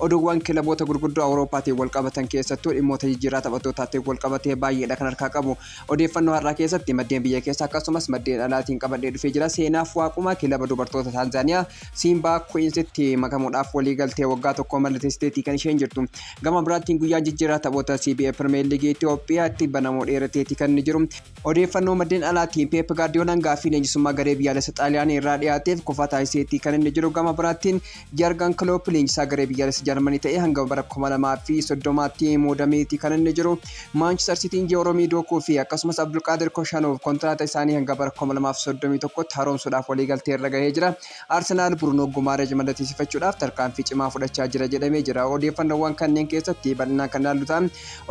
Oduuwwan kilaboota gurguddoo Awurooppaatiin walqabatan keessattuu dhimmoota jijjiirraa taphattootaatiin walqabatee baay'eedha kan harkaa qabu. Odeeffannoo har'aa keessatti maddeen biyya keessaa akkasumas maddeen alaatiin qabadhee dhufee jira. Seenaaf Waaqumaa kilaba dubartoota Taanzaaniyaa Siimbaa Kuwiinsitti makamuudhaaf waliigaltee waggaa tokkoo mallatteessiteetii kan isheen jirtu. Gama biraattiin guyyaan jijjiirraa taphoota CBA Pirimeer Liigii Itoophiyaatti banamuu dheerateetii kan inni jiru. Odeeffannoo maddeen alaatiin Peep Gaardiyoolaan gaaffii leenjisummaa garee biyyaalessa Xaaliyaanii irraa dhiyaateef kufaa taasiseetii kan inni jiru gama biraattiin Jargan Kiloop leenjisaa garee biyyaalessa Jarmanii ta'ee hanga bara 2030tti muudameetii kan inni jiru. Maanchister Siitiin Jeeroomii Dookuu fi akkasumas Abdulqaadir Koshaanoov kontiraata isaanii hanga bara 2031tti haroomsuudhaaf waliigaltee irra gahee jira. Arsenaal Burunoo Gumaaresh mallateesifachuudhaaf tarkaanfii cimaa fudhachaa jira jedhamee jira. Odeeffannoowwan kanneen keessatti bal'inaan kan ilaallu ta'a.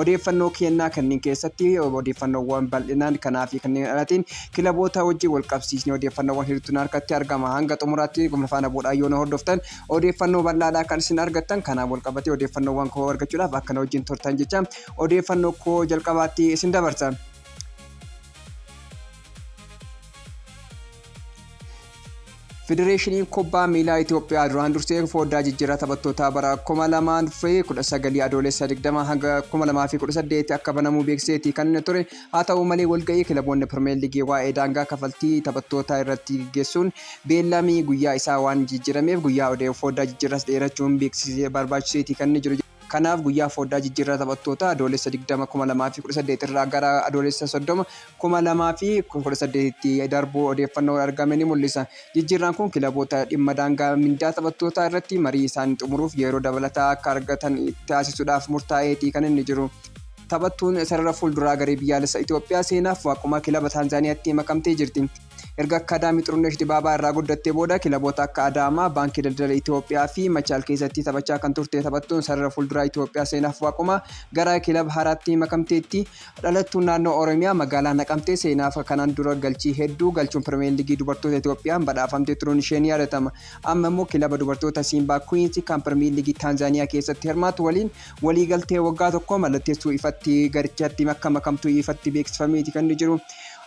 Odeeffannoo kennaa kanneen keessatti odeeffannoowwan bal'inaan kanaa fi kanneen alaatiin kilaboota wajjin wal qabsiisnee odeeffannoowwan hedduutu na harkatti argama. Hanga xumuraatti na faana bu'uudhaan yoo na hordoftan odeeffannoo bal'aadhaa kan isin argattan. Kanaan wal qabatee odeeffannoowwan koo argachuudhaaf akka na wajjin turtan jecha odeeffannoo koo jalqabaatti isin dabarsa. Federeeshiniin Kubbaa Miilaa Itoophiyaa duraan dursee foddaa jijjiirraa taphattootaa bara 2019 Adoolessa 20 hanga 2018 akka banamuu beeksiseeti kan ture. Haa ta'u malee walga'ii kilaboonni Pirimeer Liigii waa'ee daangaa kafaltii taphattootaa irratti gaggeessuun beellamii guyyaa isaa waan jijjiirameef guyyaa foddaa jijjiirraas dheerachuun beeksisee barbaachiseeti kan jiru. Kanaaf guyyaa fooddaa jijjiirraa taphattootaa Adoolessa 20, 2018 irraa gara Adoolessa 30, 2018tti darbuu odeeffannoon argame ni mul'isa. Jijjiirraan kun kilaboota dhimma daangaa mindaa taphattootaa irratti marii isaanii xumuruuf yeroo dabalataa akka argatan taasisuudhaaf murtaa'eeti kan inni jiru. Taphattuun sarara fuulduraa garee biyyaalessa Itoophiyaa Seenaaf Waaqumaa kilaba Taanzaaniyaatti makamtee jirti. Erga akkaadaamii Xurunesh Dibaabaa irraa guddattee booda kilaboota akka Adaamaa, Baankii Daldala Itoophiyaa fi Machaal keessatti taphachaa kan turte taphattuun sarara fuulduraa Itoophiyaa Seenaaf Waaquma gara kilaba haaraatti makamteetti. Dhalattuun naannoo Oromiyaa magaalaa Naqamtee Seenaaf kanaan dura galchii hedduu galchuun Pirimeer Liigii dubartoota Itoophiyaan badhaafamtee turuun ishee ni yaadatama. Amma immoo kilaba dubartoota Siimbaa Kuwiinsi kan Pirimeer Liigii Taanzaaniyaa keessatti hirmaatu waliin waliigaltee waggaa tokkoo mallatteessuu ifatti garichatti akka makamtu ifatti beeksifameeti kan inni jiru.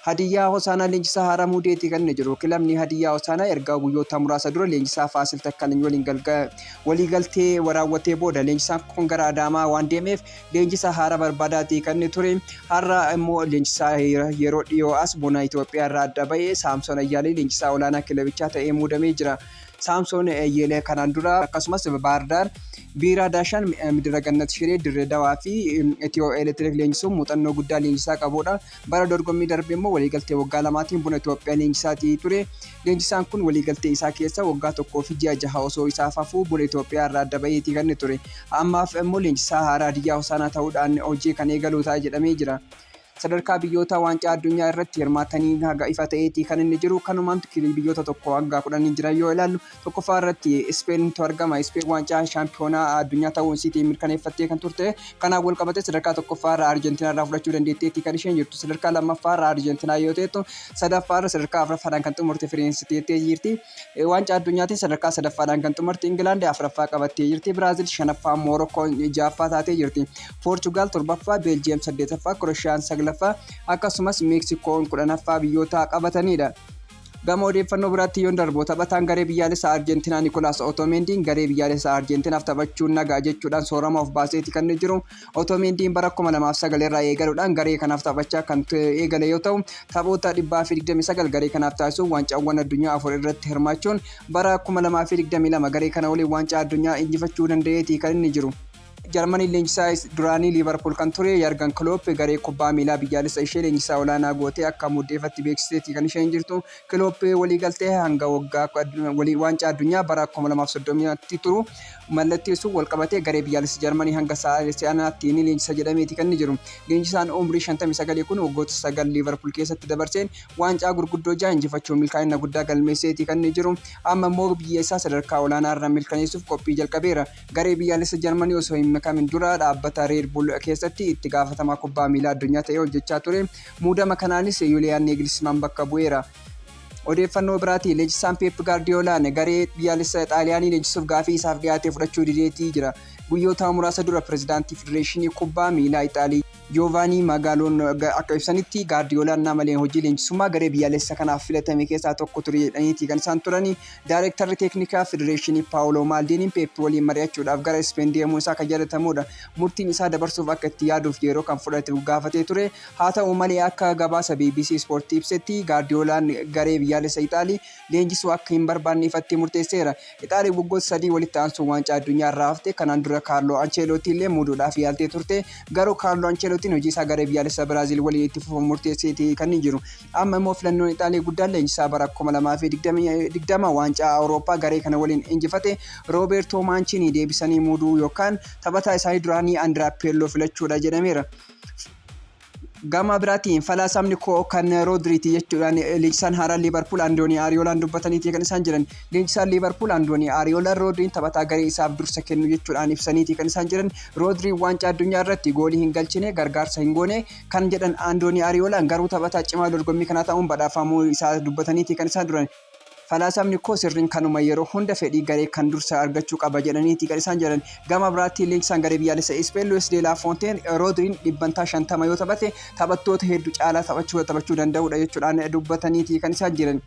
Hadiyyaa Hosaanaa leenjisaa haaraa muudeeti kan inni jiru. Kilabni Hadiyyaa Hosaanaa erga guyyoota muraasa dura leenjisaa Faasil Takkalany waliin waliigaltee raawwatee booda leenjisaan kun gara Adaamaa waan deemeef leenjisaa haaraa barbaadaati kan inni ture. Har'a immoo leenjisaa yeroo dhiyoo as buna Itoophiyaa irraa adda ba'e Saamsoon Ayyaalee leenjisaa olaanaa kilabichaa ta'ee muudamee jira. Saamsoon Ayyeelee kanaan dura akkasumas Baardaar Biiraa Daashaan Midira Gannat Shiree Dirree Dawaa fi Itiyoo Elektiriik leenjisuun muuxannoo guddaa leenjisaa qabudha. Bara dorgommii darbe immoo waliigaltee waggaa lamaatiin Buna Itoophiyaa leenjisaatii ture. Leenjisaan kun waliigaltee isaa keessa waggaa tokkoo fi ji'a jaha osoo isaaf hafuu Buna Itoophiyaa irraa adda baheetii kan ture. Ammaaf immoo leenjisaa haaraa Hadiyyaa Hosaanaa ta'uudhaan hojii kan eegalu ta'a jedhamee jira. Sadarkaa biyyootaa waancaa addunyaa irratti hirmaataniin haga ifa ta'eetii kan inni jiru. Kanumaan kilii biyyoota tokkoo hanga kudhanii jiran yoo ilaallu tokkoffaa irratti Ispeentu argama. Ispeen waancaa shaampiyoonaa addunyaa ta'uu isiitii mirkaneeffattee kan turte. Kanaan wal qabatee sadarkaa tokkoffaa irraa Arjentiinaa irraa fudhachuu dandeetteetti kan isheen jirtu. Sadarkaa lammaffaa irraa Arjentiinaa yoo ta'ettu sadaffaa irra sadarkaa afuraffaadhaan kan xumurte Firaansi teettee jirti. Waancaa addunyaatiin sadarkaa sadaffaadhaan kan xumurte Ingilaandi afuraffaa qabattee jirti. Biraazil shanaffaa, Moorokkoon ja'affaa taatee jirti. Poorchugaal torbaffaa, Beeljiyeem saddeetaffaa, Kiroshiyaan saglaffaa akkasumas Meeksikoon kudhanaffaa biyyoota qabatanidha. Gama odeeffannoo biraatti yoon darbu taphataan garee biyyaalessaa Arjeentinaa Nikolaas Otomeendiin garee biyyaalessaa Arjeentinaaf taphachuun nagaa jechuudhaan soorama of baaseeti kan jiru. Otomeendiin bara 2009 irraa eegaluudhaan garee kanaaf taphachaa kan eegale yoo ta'u taphoota 129 garee kanaaf taasisuun waancaawwan addunyaa afur irratti hirmaachuun bara 2022 garee kana waliin waancaa addunyaa injifachuu danda'eeti kan inni jiru. Jarmaniin leenjisaa duraanii Liivarpuul kan ture Yargan Kiloop garee kubbaa miilaa biyyaalessa ishee leenjisaa olaanaa gootee akka muuddeefatte beeksisteetti kan isheen jirtu. Kiloop waliigaltee hanga waggaa waancaa addunyaa bara 2030tti turu mallatteessuun walqabatee garee biyyaalessa Jarmanii hanga si'anaatti ni leenjisa jedhameeti kan inni jiru. Leenjisaan umrii 59 kun waggoota sagal Liivarpuul keessatti dabarseen waancaa gurguddoo ja'a injifachuun milkaa'ina guddaa galmeesseeti kan inni jiru. Amma immoo biyya isaa sadarkaa olaanaarra milkaneessuuf qophii jalqabeera. Garee biyyaalessa Jarmanii osoo hin makamin dura dhaabbata Red Bull keessatti itti gaafatamaa kubbaa miilaa addunyaa ta'ee hojjechaa ture. Muudama kanaanis Yuliyaan Neegilismaan bakka bu'eera. Odeeffannoo biraatiin leenjisaan Peep Gaardiyoolaan garee biyyaalessa Xaaliyaanii leenjisuuf gaafii isaaf dhiyaate fudhachuu dideetii jira. Guyyoota muraasa dura pirezidaantii Federeeshinii Kubbaa Miilaa Ixaalii. Joovaanii Magaaloon akka ibsanitti, Gaardiyoolaan naamaleen hojii leenjisummaa garee biyyaalessa kanaaf filatame keessaa tokko ture jedhaniiti kan isaan turani. Daarektarri teeknikaa federeeshinii Paawuloo Maaldiiniin Peep waliin mari'achuudhaaf gara Ispeen deemuun isaa kan yaadatamuudha. Murtiin isaa dabarsuuf akka itti yaaduuf yeroo kan fudhatu gaafatee ture. Haa ta'u malee akka gabaasa bbc Ispoortii ibsetti Gaardiyoolaan garee biyyaalessa Ixaalii leenjisuu akka hin barbaanne ifatti murteesseera. Ixaaliyaan waggoota sadii walitti aansuun waancaa addunyaa irraa hafte. Kanaan dura Kaarloo Ancheelootii illee muuduudhaaf yaaltee turte. Garuu Kaarloo Ancheelootiin hojii isaa garee biyyaalessaa Biraaziil waliin itti fufuun murteesseeti kan jiru. Amma immoo filannoon Ixaalii guddaan leenjisaa bara 2020 waancaa Awurooppaa garee kana waliin injifate Roobeertoo Maanchiinii deebisanii muuduu yookaan taphataa isaanii duraanii Andiraa Peelloo filachuudha jedhameera. Gama biraatiin falaasamni koo kan Roodriiti jechuudhaan leenjisaan haaraa Liivarpuul Andoonii Ariyoolaan dubbataniiti kan isaan jiran. Leenjisaan Liivarpuul Andoonii Ariyoolaan Roodriin taphataa garee isaaf dursa kennu jechuudhaan ibsaniiti kan isaan jiran. Roodriin waancaa addunyaa irratti goolii hin galchine, gargaarsa hin goone kan jedhan Andoonii Ariyoolaan garuu taphataa cimaa dorgommii kanaa ta'uun badhaafamuu isaa dubbataniiti kan isaan duran. Falaasamni koo sirriin kanuma yeroo hunda fedhii garee kan dursa argachuu qaba jedhaniiti kan isaan jedhan. Gama biraatti leenjisaan garee biyyaalessa Ispeen Luis de la Fonteen Rodriin dhibbantaa 50 yoo taphate taphattoota heddu caalaa taphachuuta taphachuu danda'uudha jechuudhaan dubbataniiti kan isaan jiran.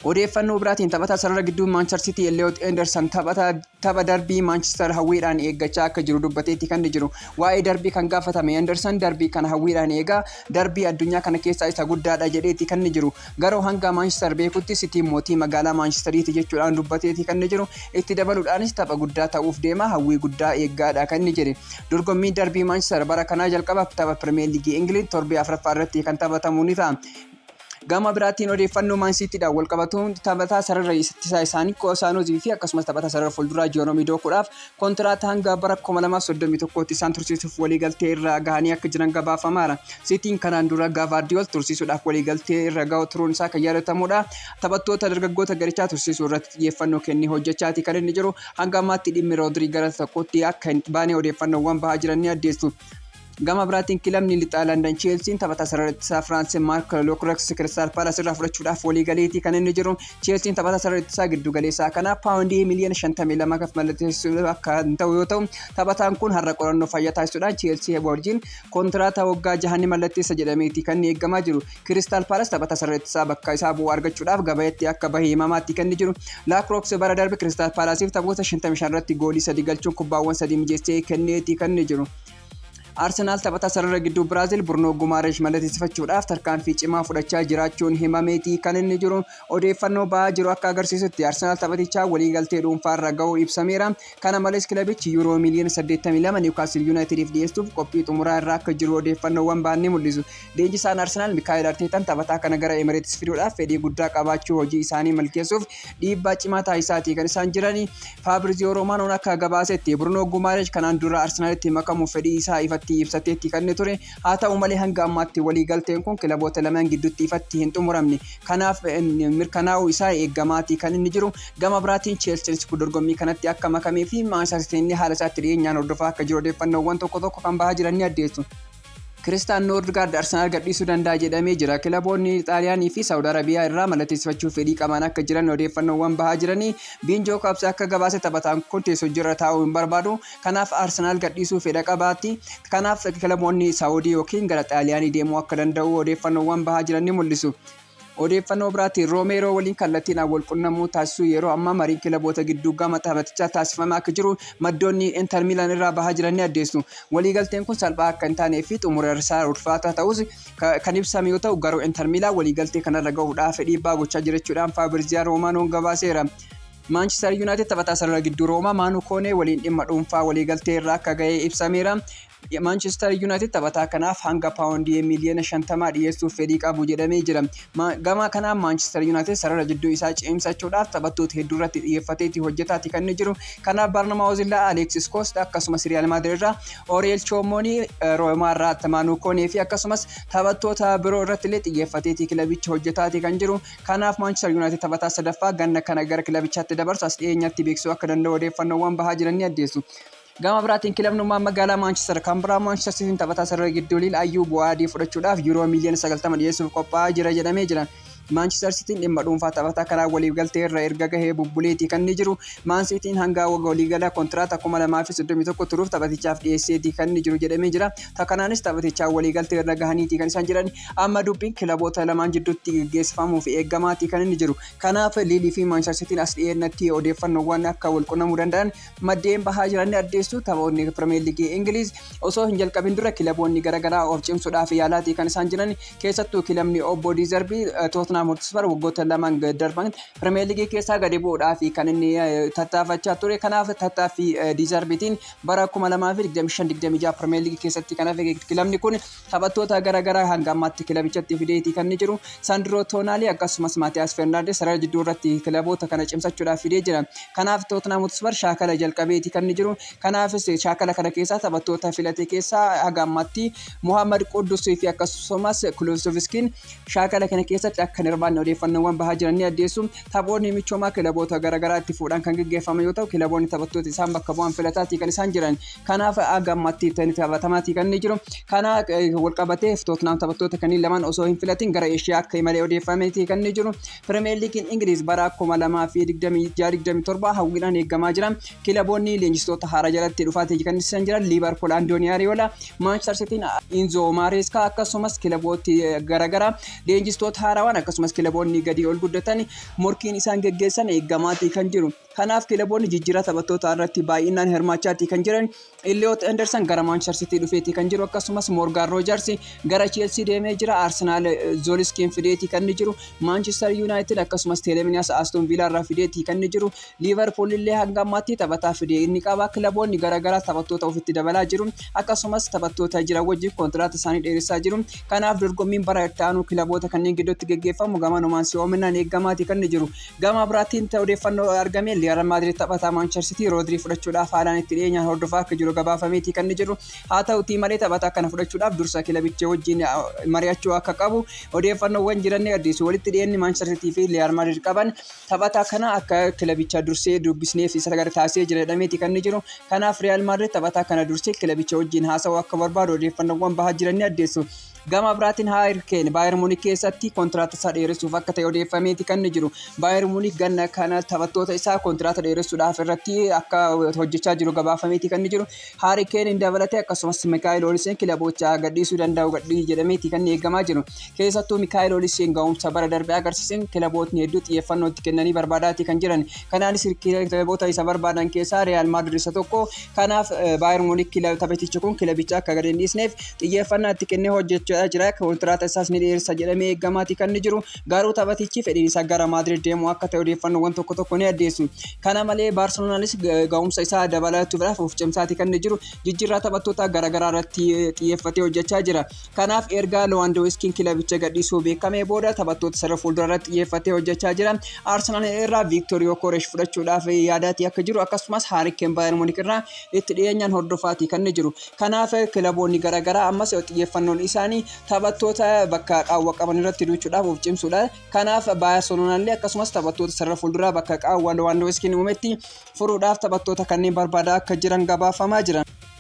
Odeeffannoo biraatiin taphataa sarara gidduu Maanchar Sitii Elliot Endersan taphataa Tapha darbii Maanchistar hawwiidhaan eeggachaa akka jiru dubbateetti kan jiru. Waa'ee darbii kan gaafatame Henderson darbii kana hawwiidhaan eega. Darbii addunyaa kana keessaa isa guddaadha jedheetti kan jiru. Garuu hanga Maanchistar beekutti Sitiin mootii magaalaa Maanchistariiti jechuudhaan dubbateetti kan jiru. Itti dabaluudhaanis tapha guddaa ta'uuf deema hawwii guddaa eeggaadha kan inni jedhe. Dorgommiin darbii Maanchistar bara kanaa jalqaba tapha Pirimeer Liigii Ingiliiz torbee afraffaa irratti kan taphatamu ni ta'a. Gama biraatiin odeeffannoo Maan Siitiidhaan walqabatuun taphataa sarara ittisaa isaanii Koosaanoozii fi akkasumas taphataa sarara fuulduraa Jeeroomii Dookuudhaaf kontiraata hanga bara 2031tti isaan tursiisuuf waliigaltee irra gahanii akka jiran gabaafamaara. Siitiin kanaan dura Gaavaardiyool tursiisuudhaaf waliigaltee irra gahu turuun isaa kan yaadatamudha. Taphattoota dargaggoota garichaa tursiisuu irratti xiyyeeffannoo kennee hojjechaati kan inni jiru. Hanga ammaatti dhimmi Roodirii gara tokkotti akka hin baane odeeffannoowwan bahaa jiran ni addeessu. Gama biraatiin kilabni lixaa Landan Cheelsiin taphataa sarara ittisaa Firaansi Maark Lookreeks Kiristaal Paalas irraa fudhachuudhaaf walii galeetii kan inni jiru. Cheelsiin taphataa sarara ittisaa giddu galeessaa kana paawundii miliyoona 52 kan mallatteessu akka hin ta'u yoo ta'u taphataan kun har'a qorannoo fayyaa taasisuudhaan Cheelsii wajjin kontiraata waggaa jaha ni mallatteessa jedhameetii kan inni eegamaa jiru. Kiristaal Paalas taphataa sarara ittisaa bakka isaa bu'u argachuudhaaf gabayeetti akka bahe himamaatti kan inni jiru. Laakrookse bara darbe Kiristaal Paalaasiif taphoota 55 irratti goolii sadii galchuun kubbaawwan sadii mijeessee kenneetii kan inni jiru. Arsenaal taphataa sarara gidduu Biraazil Burnoo Gumaaresh mallateessifachuudhaaf tarkaanfii cimaa fudhachaa jiraachuun himameeti kan inni jiru. Odeeffannoo ba'aa jiru akka agarsiisutti Arsenaal taphatichaa waliigaltee dhuunfaarra ga'uu ibsameera. Kana malees kilabichi yuuroo miiliyoona 82 Niwukaastil Yuunaayitidiif dhiyeessuuf qophii xumuraa irra akka jiru odeeffannoowwan ba'an ni mul'isu. Leenjisaan Arsenaal Mikaa'el Arteetaan taphataa kana gara Emireetis fiduudhaaf fedhii guddaa qabaachuu hojii isaanii milkeessuuf dhiibbaa cimaa taasisaatii kan isaan jiran Faabriziyoo Roomaanoon akka gabaasetti Birunoo Gumaaresh kanaan dura Arsenaalitti makamuuf fedhii isaa ifatti ibsateetti kan inni ture haa ta'u malee hanga ammaatti waliigalteen kun kilaboota lamaan gidduutti ifatti hin xumuramne kanaaf mirkanaa'uu isaa eeggamaatii kan inni jiru gama biraatiin Cheelsiinis dorgommii kanatti akka makamee fi Maanchester Siitiin haala isaatti dhiyeenyaan hordofaa akka jiru odeeffannoowwan tokko tokko kan bahaa jiran ni addeessu. Kiristaan Noordgaard Arsenaal gadhiisuu danda'a jedhamee jira. Kilaboonni Xaaliyaanii fi Saawud Arabiyaa irraa mallatteessifachuuf fedhii qabaan akka jiran odeeffannoowwan bahaa jiranii Biinjoo Kaabsi akka gabaase taphataan kun teessojirra taa'uu hin barbaadu. Kanaaf Arsenaal gadhiisuu fedha qabaatti. Kanaaf kilaboonni Saawudii yookiin gara Xaaliyaanii deemuu akka danda'u odeeffannoowwan bahaa jiran ni mul'isu. Odeeffannoo biraatiin Roomeeroo waliin kallattiidhaan wal qunnamuu taasisuu yeroo ammaa mariin kilaboota gidduu gama taphatichaa taasifamaa akka jiru maddoonni Inter Miilan irraa bahaa jiran ni addeessu. Waliigalteen kun salphaa akka hin taanee fi xumurarsaa ulfaataa ta'us kan ibsame yoo ta'u garuu Inter Miilaan waliigaltee kanarra gahuudhaaf dhiibbaa gochaa jirachuudhaan Faabirziyaan Roomaanoon gabaaseera. Maanchister Yuunaayitid taphataa sarara gidduu Roomaa Maanuu Koonee waliin dhimma dhuunfaa waliigaltee irra akka gahee ibsameera. Maanchestar Yuunaayitid taphataa kanaaf hanga paawundii miiliyoona shantamaa dhiyeessuuf fedhii qabu jedhamee jira. Gama kanaan Maanchestar Yuunaayitid sarara jidduu isaa cimsachuudhaaf taphattoota hedduu irratti xiyyeeffateeti hojjetaati kan inni jiru. Kanaaf Barnamaawuz irraa Aleeksis Koost akkasumas Riyaal Maadirid irraa Oriyel Choomoonii, Roomaa irraa Attamaanuu Koonee fi akkasumas taphattoota biroo irratti illee xiyyeeffateeti kilabichi hojjetaati kan jiru. Kanaaf Maanchestar Yuunaayitid taphataa sadaffaa ganna kana gara kilabichaatti dabarsu as dhiyeenyatti beeksisuu akka danda'u odeeffannoowwan bahaa jiran ni addeessu. Gama biraatiin kilabnummaan magaalaa Maanchister kan biraa Maanchister Siitiin taphataa sarara gidduu Liil Ayyuu Buwaadii fudhachuudhaaf Yuuroo miiliyoona 90 dhiyeessuuf qophaa'aa jira jedhamee jira. Maanchister Siitiin dhimma dhuunfaa taphataa kanaa waliigaltee irra erga gahee bubbuleetii kan inni jiru. Maan Siitiin hangaa waga waliigala kontiraata 2031 turuuf taphatichaaf dhiyeesseetii kan inni jiru jedhamee jira. Ta kanaanis taphatichaa waliigaltee irra gahaniitii kan isaan jiran. Amma dubbiin kilaboota lamaan jidduutti gaggeessifamuuf eegamaatii kan inni jiru. Kanaaf Liilii fi Maanchister Siitiin as dhiyeennatti odeeffannoowwan akka walqunnamuu danda'an Maddeen bahaa jiran ni addeessu. Taphoonni Pirimeer Liigii Ingiliiz osoo hin jalqabin dura kilaboonni garaagaraa of cimsuudhaaf yaalaatii kan isaan jiran keessattuu kilabni obbo Diizarbii Tootnaam Hotisfar waggoota lamaan darban Pirimeer Liigii keessaa gadi bu'uudhaaf kan inni tattaafachaa ture. Kanaaf tattaaffii Diizarbiitiin bara 2025-26 Pirimeer Liigii keessatti kan hafe kilabni kun Taphattoota gara garaa hanga ammaatti kilabichatti fideeti kan jiru Sandro Tonali akkasumas Maatiyaas Fernaandes sarara jidduu irratti kilaboota kana cimsachuudhaaf fidee jira. Kanaaf Tottenham Hotspur shaakala jalqabeeti kan jiru. Kanaafis shaakala kana keessaa taphattoota filate keessaa haga ammaatti Mohammad Quddus fi akkasumas Kulusevskiin shaakala kana keessatti akka hin hirmaanne odeeffannoowwan bahaa jiran ni addeessu. Taphoonni michoomaa kilaboota gara garaa itti fuudhaan kan gaggeeffame yoo ta'u kilaboonni taphattoota isaan bakka bu'an filataatii kan isaan jiran. Kanaaf hanga ammatti taphatamaatii kan inni jiru. Kana walqabatee Tottenham taphattoota kanneen lamaan osoo hin filatin gara Eeshiyaa akka imalee odeeffameetii kan inni jiru. Pirimeer Liigiin Ingiliiz bara 2026-27 hawwiidhaan eegamaa jira. Kilaboonni leenjistoota haaraa jalatti dhufaatii kan isaan jiran Liivarpuul Andoonii Ariyoola, Maanchester Sitiin Inzoo Maareeskaa akkasumas kilabooti garaagaraa leenjistoota haarawaan akkasumas kilaboonni gadii ol guddatan morkiin isaan geggeessan eegamaatii kan jiru. Kanaaf kilaboonni jijjiirraa taphattootaa irratti baay'inaan hirmaachaatii kan jiran Elliot Anderson gara Manchester City dhufeetii kan jiru akkasumas Morgan Rogers gara Chelsea deemee jira Arsenal Zoliskiin fideetii kan inni jiru Manchester United akkasumas Teleminias Aston Villa irraa fideetii kan inni jiru Liverpool illee hanga ammaatti taphataa fidee inni qaba kilaboonni garaagaraa taphattoota ofitti dabalaa jiru akkasumas taphattoota jiran wajjin kontiraata isaanii dheeressaa jiru kanaaf dorgommiin bara itti aanu kilaboota kanneen gidduutti geggeeffamu gamanumaan si'oominaan eeggamaati kan inni jiru Gama biraatiin odeeffannoo argame Riyaal Maadriid taphataa Maanchester Siitii Roodrii fudhachuudhaaf haalaan itti dhiyeenyaan hordofaa akka jiru gabaafameeti kan inni jiru. Haa ta'utii malee taphataa kana fudhachuudhaaf dursa kilabicha wajjin mari'achuu akka qabu odeeffannoowwan jiran ni addeessu. Walitti dhiyeenyi Maanchester Siitii fi Riyaal Maadriid qaban taphataa kana akka kilabicha dursee dubbisneef isa gara taasisee jira jedhameeti kan inni jiru. Kanaaf Riyaal Maadriid taphataa kana dursee kilabicha wajjin haasa'uu akka barbaadu odeeffannoowwan bahaa jiran ni addeessu. Gama biraatiin Haari Keen Baayer Muunik keessatti kontiraata isaa dheeressuuf akka ta'e odeeffameeti kan inni jiru. Baayer Muunik ganna kana taphattoota isaa kontiraata dheeressuudhaaf irratti akka hojjechaa jiru gabaafameeti kan inni jiru. Haari Keen hin dabalatee akkasumas Mikaa'el Oliseen kilaboocha gadhiisuu danda'u gadhii jedhameeti kan inni eegamaa jiru. Keessattuu Mikaa'el Oliseen ga'umsa bara darbe agarsiiseen kilabootni hedduu xiyyeeffannoo itti kennanii barbaadaatii kan jiran. Kanaanis kilaboota isa barbaadan keessaa Riyaal Maadrid isa tokko. Kanaaf Baayern Munik taphatichi kun kilabicha akka gadi hin dhiisneef xiyyeeffannaa itti kennee hojjechaa jira. Kontiraata isaas ni dheeressa jedhamee eegamaati kan inni jiru. Garuu taphatichi fedhiin isaa gara Maadrid deemuu akka ta'e odeeffannoowwan tokko tokko ni addeessu. Kana malee Baarseloonaanis ga'umsa isaa dabalachuudhaaf of cimsaati kan inni jiru. Jijjiirraa taphattoota garaagaraa irratti xiyyeeffatee hojjechaa jira. Kanaaf erga Lewandowskiin kilabicha gadhiisuu beekamee booda taphattoota sarara fuulduraa irratti xiyyeeffatee hojjechaa jira. Arsenal irraa Viiktor Yokoresh fudhachuudhaaf yaadaatii akka jiru akkasumas Haarikkeen Baayern Munik irraa itti dhiyeenyaan hordofaatii kan jiru. Kanaaf kilaboonni garaagaraa ammas xiyyeeffannoon isaanii taphattoota bakka qaawwa qaban irratti duuchuudhaaf of cimsuudha. Kanaaf Baayarseloonaan illee akkasumas taphattoota sarara fuulduraa bakka qaawwa Lewandowskiin uumetti furuudhaaf taphattoota kanneen barbaadaa akka jiran gabaafamaa jira.